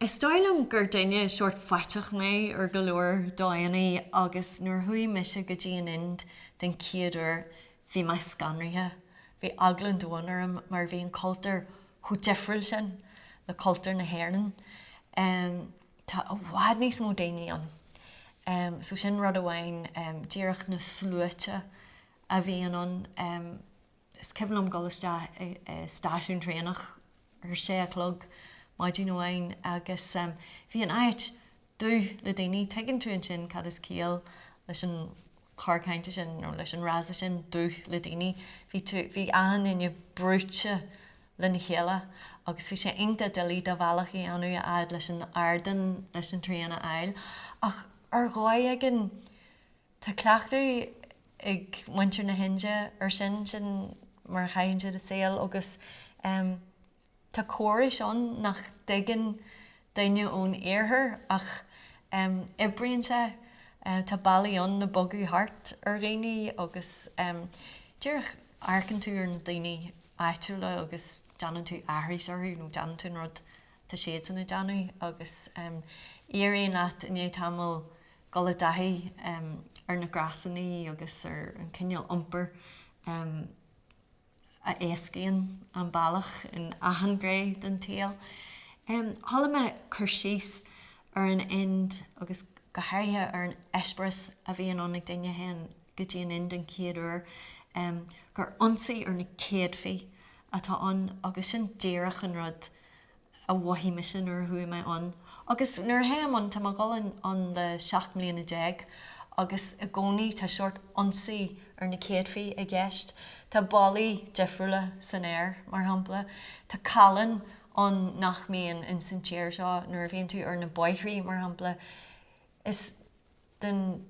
Is dóigh liom gur duine sórt faiteach mé ar go leor dóigheanna agus nuair a chuaigh mise go dtí an Ind den chéad uair bhí mé scanraithe. Bhí eagla an domhain orm mar bhí an cultúr chomh difriúil sin le cultúr na hÉireann. Tá i bhfad níos mó daoine ann so sin rud amháin, díreach na sluaite a bhíonn ann. Is cuimhin liom dul isteach i stáisiún traenach ar a sé a chlog maidin amháin agus bhí an áit dubh le daoine. Tuigeann tú ansin cad is ciall leis an chor cainte sin nó leis an fhrása sin, dubh le daoine. Bhí tú, bhí achan duine brúite lena chéile agus bhí sé iontach doiligh do bhealach a dhéanamh a fhad leis an ardán leis an traein a fháil. Ach ar dhóigh éigin Tá cleachtadh ag muintir na hInde ar sin, sin mar a chaitheann siad a saol agus tá córais ann nach dtuigeann duine ón iarthar ach oibríonn sé. Tá bealaí ann le bogadh thart ar dhaoine agus díreach amharcann tú ar na daoine áitiúla agus déanann tú aithris orthu nó déanann tú an rud atá siadsan ag déanamh agus éiríonn leat i ndiaidh tamaill dul i dtaithí ar na gréasánaí agus ar an chineál iompair a éascaíonn an bealach in achan ghné den tsaol. Chuala mé cur síos ar an Ind agus go háirithe ar an eispéireas a bhíonn ann ag duine a théann go dtí an Ind den chéad uair, gur ionsaí ar na céadfaí atá ann agus sin díreach an rud a mhothaigh mise nuair a chuaigh mé ann. Agus nuair a théim ann, tá mé ag dul ann le seacht mbliana déag agus i gcónaí tá sórt ionsaí ar na céadfaí i gceist. Tá bolaithe difriúla san aer, mar shampla. Tá callan ann nach mbíonn insan tír seo nuair a bhíonn tú ar na bóithrí, mar shampla. den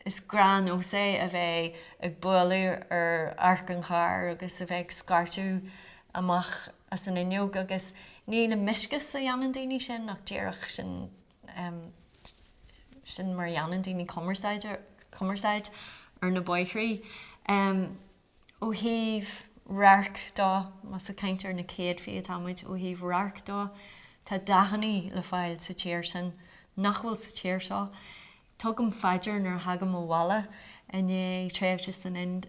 is gnáthnós é a bheith ag bualadh ar adharc an chairr agus a bheith ag scairteadh amach as an fhuinneog agus ní le mioscais a dhéanann daoine sin ach díreach sin mar a dhéanann daoine cumarsáid ar na bóithrí. Ó thaobh radhairc de, más ag caint ar na céadfaí atá muid, ó thaobh radhairc de tá dathannaí le fáil sa tír sin nach bhfuil sa tír seo. Tugaim faoi deara nuair a thagaim abhaile i ndiaidh tréimhse san Ind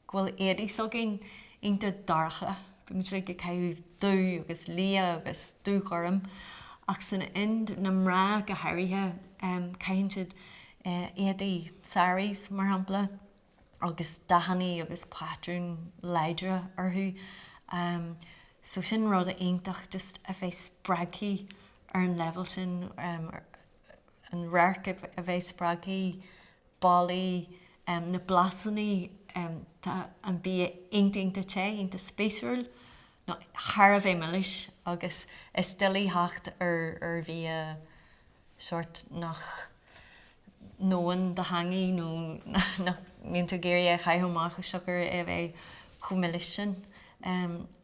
go bhfuil éadaí s'againn iontach dorcha, bíonn muid uilig ag caitheamh dubh agus liath agus dúghorm ach san Ind, na mná go háirithe, caitheann siad éadaí, saris mar shampla. agus dathannaí agus pátrúin láidre orthu so sin rud iontach just a bheith spreagthaí ar an leibhéal sin, an radharc a bheith spreagthaí, ballaí, na blasannaí, tá an bia iontach iontach te, iontach spéisiúil, nó thar a bheith milis agus is doiligh theacht ar bhia sórt nach ndónn do theangaidh nó nach mbíonn tú ag iarraidh é a chaitheamh amach siocair é a bheith chomh milis sin.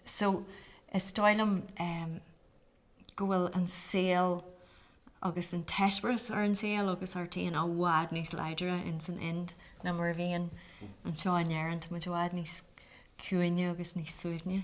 So is dóigh liom go bhfuil an saol agus an t-eispéireas ar an saol agus ar an tír i bhfad níos láidre in san Ind ná mar a bhíonn anseo in Éirinn. Tá muid i bhfad níos ciúine agus níos suaimhní.